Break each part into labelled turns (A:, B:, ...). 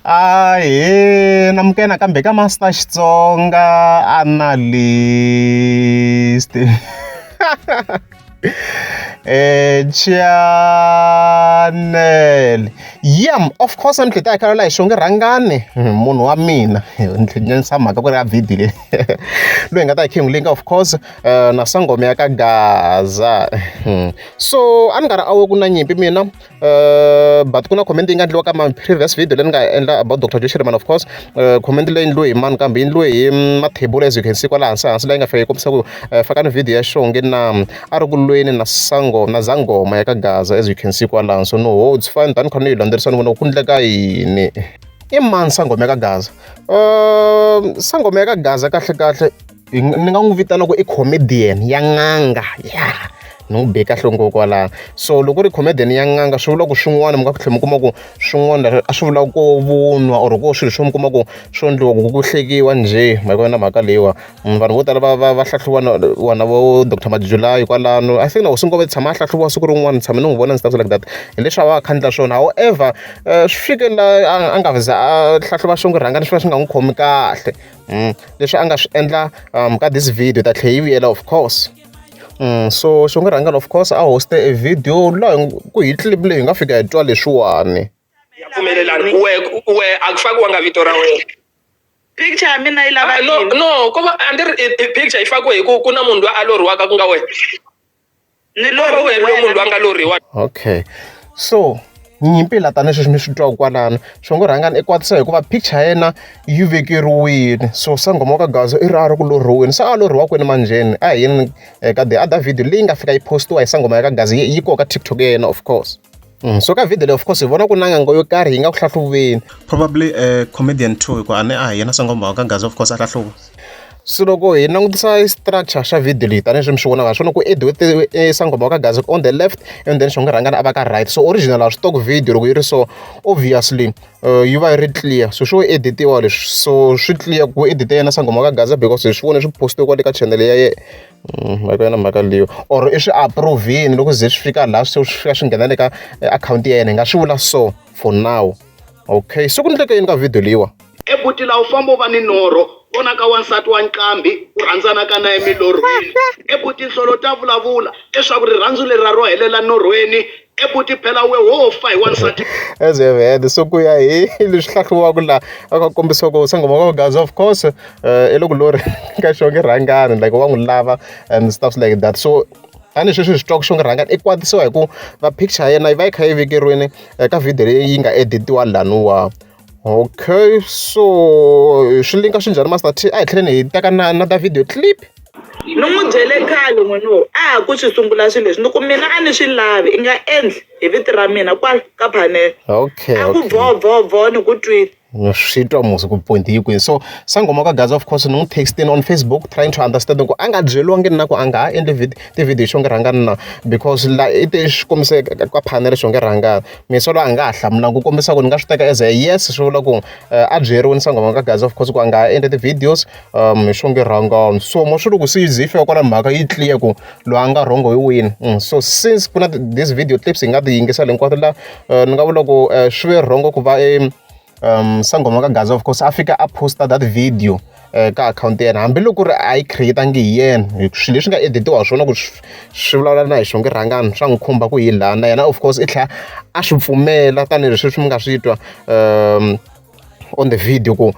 A: Ahee, amukela nakambe ka Master Xitsonga Analyst. Eh, channel. Yam, of course ni tlhela hi khala la hi xonge rhangani hmm, munhu wa mina ni tlhenisa mhaka ku ri ya video leyi loyi nga ta hi khingulika of course eh, na sangoma ya ka gaza hmm. so a ni nga ri awe ku na nyimpi mina but ku na comment yi nga endliwa ka mani previous video leyi ni nga endla about dr joshirman of course comment leyi endliwe hi mani kambe yi endliwe hi mathebula as you can see kwala hansi hansi leyi nga fika yi kombisa ku fakani video ya show nge na a ri ku lweni na sango na zangoma ya ka gaza as you can see kwalano so no ho it's fine tani khona yi landzerisani vona ku ndleka yini i mani sangoma ya ka gaza um sangoma ya ka gaza kahle kahle ni nga n'wi vitana ku i comedian ya n'anga ya ni n'wi be kahle ngoko kwalano so loko ri comedian ya n'anga swi vula ku swin'wana mi nga ku tlhela mi kuma ku swin'wana leswi a swi vula ko vunwa or ko swilo swo mi kuma ku swo endliwa ku ku hlekiwa njhe ma yi vona mhaka leyiwa vanhu vo tala va va va hlahluva vona vo doctor majulayi kwalano i think na hosi ngoma tshama a hlahluviwa siku rin'wana ni tshame ni n'wi vona ni stuff like that hileswi a va a kha a endla swona however swi fike laha a nga za a hlahluva swin'wana ku rhanga ni swi va swi nga n'wi khomi kahle. mm. leswi a nga swi endla um, ka this video ta tlhe yi vuyela of course mm. so swi nga rhangela of course a hoste a video laha ku hi clip leyi hi nga fika hi twa leswiwani ya pfumelelani
B: we we a ku fakiwanga vito ra wena picture ya
C: mina yi lava ah, no no ko va a ni
B: ri picture yi fakiwe hi ku ku na munhu loyi a loriwaka ku nga wena
C: ni lorha wena loyi munhu
B: loyi a nga lorhiwa okay
A: so nyimpi la tani sweswi mi swi twa kwalano swi ngo rhangani i kwatisa hikuva picture ya yena yi vekeriwile so sangoma wa ka gaza i ri a ri ku lorhiweni se a lorhiwa kwini manjheni a hi yini eka eh, the other video leyi nga fika yi postiwa hi sangoma ya ka gaza yi koka tiktok ya yena of course Mm, so ka video leyi of course hi vona ku na ngango yo karhi yi nga ku hlahluveni probably uh,
D: comedian two hikuva a ne a hi yena sangombawa ka gaza of course a hlahluva so loko
A: hi langutisa structure xa video leyi tanihi swi mi swi vonaka swona ku ediwe e sangoma ka gazi on the left and then xonga rhangana a va ka right so original a swi tok video loko yi ri so obviously uh, yi va yi ri clear so swo editiwa leswi so swi clear ku edite yena sangoma ka gaza because hi swi vone swi postiwe kwale ka channel ya Mm, mhaka yona mhaka leyo or i swi approve-ini loko ze swi fika laha swi fika swi nghena le ka eh, akhawunti ya yena hi nga swi vula so for now okay se ku ndleke yini ka video leyiwa ebuti laha u famba
E: u va ni norho vona ka wansati wa nqambi u rhandzanaka na emilorhweni ebuti nhlolo ta vulavula leswaku rirhandzu leri ra ro helela norhweni ebuti phela we wo fa hi wansati
A: as you have heard so ku ya hi leswi hlahliwaka laha a ka kombisiwa ku sangoma ka gazi of course eh, i loko lori ka xonge rhangani like wa n'wi lava and stuff like that so tanihi sweswi swi twaka xonge rhangani i kwatisiwa hi ku va picture ya yena yi va yi kha yi vekeriwini eh, ka video leyi yi nga editiwa laniwa Okay so swi linka swi njhani Master T a hi tlheleni hi teka na na ta video clip ni n'wi
C: byele khale n'wini wo a ha ku swi sungula swilo leswi ni ku mina a ni swi lavi i nga endli hi viti ra mina kwala ka phanele okay a ku boo
A: boo
C: boo ni ku twile swi twa musi
A: ku point yi kwini so sangoma ka gaza of course ni n'wi textini on facebook trying to understand ku a nga byeriwangi na ku a nga ha endli vid tivhidiyo xo nge rhangani na because la i te xi kombise ka phanele xo nge rhangani misolo a nga ha hlamulanga ku kombisa ku ni nga swi teka as a yes swi vula ku eh, a byeriwe ni sangoma ka gaza of course ku a nga ha endle ti-videos um hi swonge rhongo so mo swi ri ku se ze yi fika kwala mhaka yi clear ku loyi a nga rhongo hi wini mm, so since ku na this video clips hi nga ti yingisela hinkwato la eh, ni nga vula ku eh, swi ve rhongo ku va um sangoma ka gaza of course a fika a posta that video um ka akhawunti ya yena hambiloko ri a yi create-angi hi yena hi swilo leswi nga editiwa swona ku swi vulavula na hi swonge rhangani swa n'wi khumba ku yi lana yena of course i tlhela a swi pfumela tanihileswi swi mi nga swi twa um on the video ku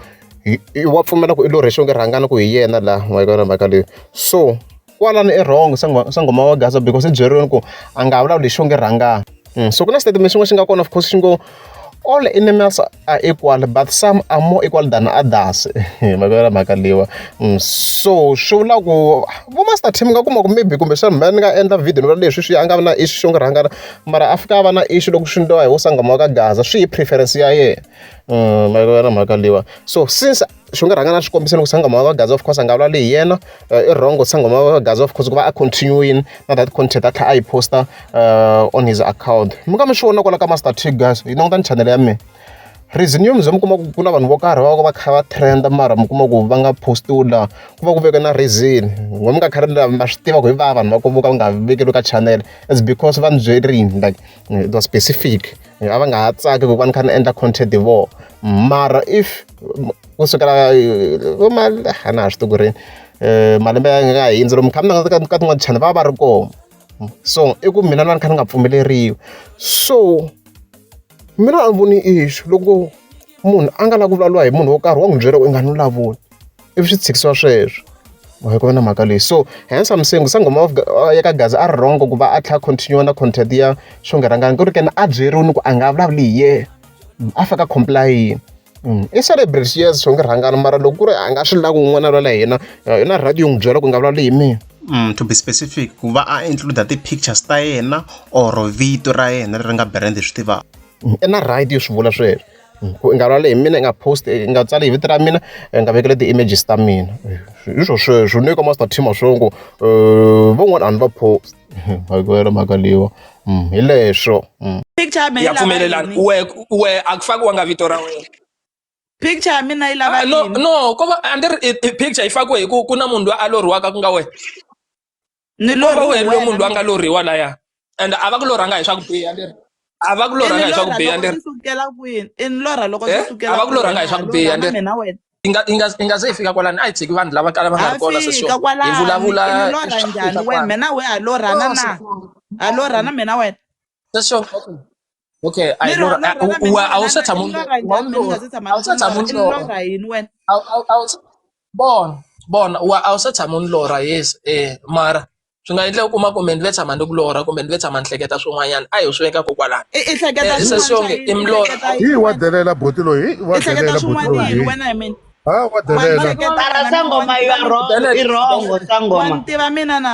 A: wa pfumela ku i lo rhexonge rhangana ku hi yena laha mayikona mhaka leyi so kwalano i wrong sangoma wa gaza because i byeriweni ku a nga vulavuli xo nge rhangana mm, so ku na statement xin'wana xi nga kona of course xi ngo all animals are equal but some are more equal than others mavela mhaka leyiwa mm, so swi vula ku vo master team nga kuma ku maybe kumbe xana mhani nga endla video nivula leswi swi a nga vi na issue xo nge rhangana mara a fika a va na issue loko swi ndliwa hi wo sangoma wa ka gaza swi hi preference ya yena mm, mavela mhaka leyiwa so since swi nga rhanga na xikombiso loko sangoma wa gaza of course a nga vulavuli hi yena eh, i wrong sangoma wa gaza of course ku va a continuing na that content a tlhela a yi posta uh, on his account mi nga mi swi vona kwala ka master t guys yi langutani channel ya mina reason yo mze mi kuma ku ku na vanhu vo karhi va va va kha va trend mara mi kuma ku va nga postiwi laha ku va ku veke na reason n'we mi nga khari ma swi tiva ku hi va vanhu va ku vo ka va nga vekeriwi ka channel is because va ni byerile like eh, it was specific eh, a va nga ha tsaki ku va ni kha ni endla content hi vona mara if ku sukela a na ha swi tiku rini um malembe ya nga hindzi lomu kha mi na ka tin'wana channel va va ri kona so i ku mina na ni kha ni nga pfumeleriwi so mina a ni voni ixu loko munhu a nga la ku vulavuriwa hi munhu wo karhi wa n'wi byeriwa i nga ni vulavuli ivi swi tshikisiwa sweswo mhaka ku va na mhaka leyi so hence I'm saying sangoma of uh, ya ka gaza a ri wrong ku va a tlha continue na content ya swo nga rhangani ku ri kena a byeriwi ni ku a nga vulavuli hi ye mm, a faka complain mm, i celebrate yes swo nga rhangani mara loko ku ri a nga swi lavi un'wana lwala hina uh, na radio n'wi byela ku nga vulavuli hi mina Mm, to be specific
D: ku va a include ti-pictures ta yena or vito ra yena leri nga brand hi swi tivaka mm, i na right yo
A: swi vula sweswo Ku nga rhwali hi mina, yi nga post-i, yi nga tsali hi vito ra mina, yi nga vekeli ti-images ta mina. Hi swona sweswo ni le ka Master Team wa swi tiva ku van'wana a ni va post hikwalaho mhaka leyiwa hi leswo.
C: Ya pfumelelana wehe
B: wehe a ku fakiwanga vito ra
C: wena. No no ko va a ni
B: ri picture yi fakiwe hi ku ku na munhu loyi a lorhiwaka ku nga wena.
C: ni loriwe loyi munhu
B: loyi a nga loriwa laya and a va ku lorhanga hi swa ku biha leri a va ku lorhanga hi swa ku biha leri sukela kwini i ni
C: lorha loko eh? sukela a va ku lorhanga hi swa ku
B: biha leri inga inga
C: inga se
B: fika kwalani a hi tshiki vanhu lava kala va nga ri kona se so hi vulavula lorha njhani wena
C: mina we a lorhana oh, na a lorhana mina wena se so
B: Okay, I know. I will set a moon. I will set a moon. I will
C: bon
B: bon wa a wu se tshama ni lorha yes eh mara swi nga endleka u kuma kumbe ndzi ve tshama ni ku lorha kumbe ndzi ve tshama ni hleketa swin'wanyana a hi swi veka kokwalani eh, i hleketa eh, swin'wanyana
C: i
B: milorha hi wa delela
F: boti loyi wa delela boti loyi wena i mean ha
C: wa delela
G: sangoma you are wrong
C: i
G: wrong sangoma tiva
C: mina
G: na